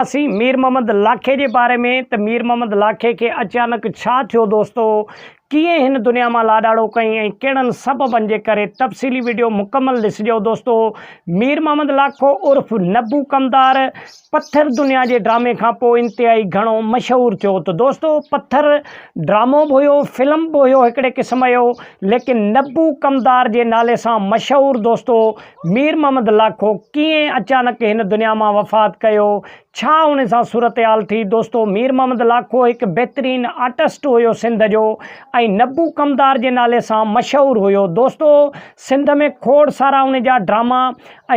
اسين مير محمد لاکي جي باري ۾ ته مير محمد لاکي کي اچانڪ ڇا ٿيو دوستو ڪيئن هن دنيا مان لاڏاڙو ڪئين ۽ ڪهڙن سببن جي ڪري تفصيلي ويڊيو مڪمل ڏسجو دوستو مير محمد لاکو عرف نبو ڪمدار پٿر دنيا جي ڊرامي کان پوء انتهائي گهڻو مشهور ٿيو ته دوستو پٿر ڊرامو به هيو فلم به هيو هڪڙي قسم جو ليڪن نبو ڪمدار جي نالي سان مشهور دوستو مير محمد لاکو ڪيئن اچانڪ هن دنيا مان وفات ڪيو؟ ڇا ان سان صورتحال ٿي؟ دوستو مير محمد لاکو هڪ بهترين آرٽسٽ هيو سنڌ جو ۽ نبو ڪمدار جي نالي سان مشهور هيو. دوستو سنڌ ۾ کوڙ سارا ان جا ڊراما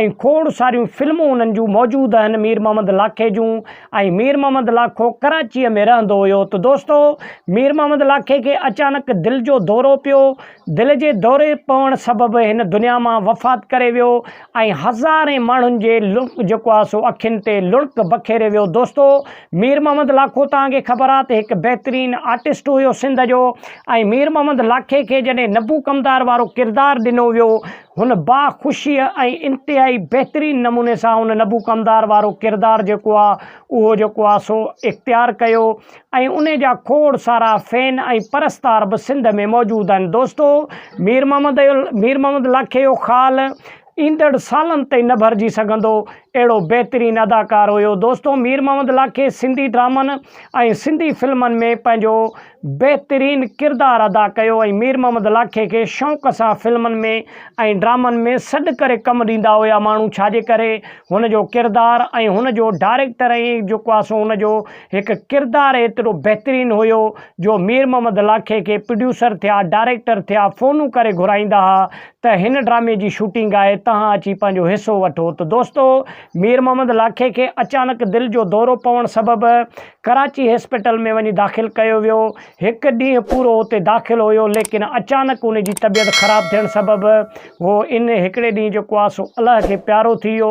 ۽ کوڙ ساريون فلمون انهن جون موجود آهن مير محمد لاکي جون ۽ مير محمد لاکو ڪراچيء ۾ رهندو هيو ته دوستو مير محمد لاکي کي اچانڪ دل جو دورو پيو دل جي دوري پوڻ سبب هن دنيا مان وفات ڪري ويو ۽ هزارين ماڻهن جي لڙڪ جيڪو آهي سو اکين تي لڙڪ بکيري ويو دوستو مير محمد لاکو توهان کي خبر آهي ته هڪ بهترين آرٽسٽ هيو سنڌ جو ۽ مير محمد لاکي کي جڏهن نبو ڪمدار وارو ڪردار ڏنو ويو هن با خوشي ۽ انتهائي بهترين نموني سان هن نبو ڪمدار وارو ڪردار جيڪو آهي اهو جيڪو آهي سو اختيار ڪيو ۽ انهي جا کوڙ سارا فين ۽ پرستار به سنڌ ۾ موجود آهن دوستو مير محمد مير محمد لاکي جو خال ايندڙ سالن تائين نه ڀرجي سگهندو اهڙو بهترين اداڪار هيو دوستو مير محمد لاکي سنڌي ڊرامن ۽ سنڌي فلمن ۾ پنهنجو بهترين ڪردار ادا ڪيو ۽ مير محمد لاکي کي شوق سان فلمن ۾ ۽ ڊرامن ۾ سڏ ڪري ڪم ڏيندا هيا ماڻهو ڇاجي ڪري هن جو ڪردار ۽ هن جو ڊائريڪٽر ۽ جيڪو آهي سو هن جو هڪ ڪردار ايترو بهترين هيو جو مير محمد لاکي کي پروڊيوسر ٿيا ڊائريڪٽر ٿيا فونون ڪري گهرائيندا ها ته هن ڊرامي جي شوٽنگ آهي تهان اچي پنهنجو حصو وٺو ته دوستو مير محمد لاکي کي اچانڪ دل جو دورو پوڻ سبب ڪراچي هسپيٽل ۾ وڃي داخل ڪيو ويو هڪ ڏينهن پورو اتي داخل هيو ليڪن اچانڪ ان جي طبيعت خراب ٿيڻ سبب هو ان هڪڙي ڏينهن جيڪو آهي سو الله کي پيارو ٿي ويو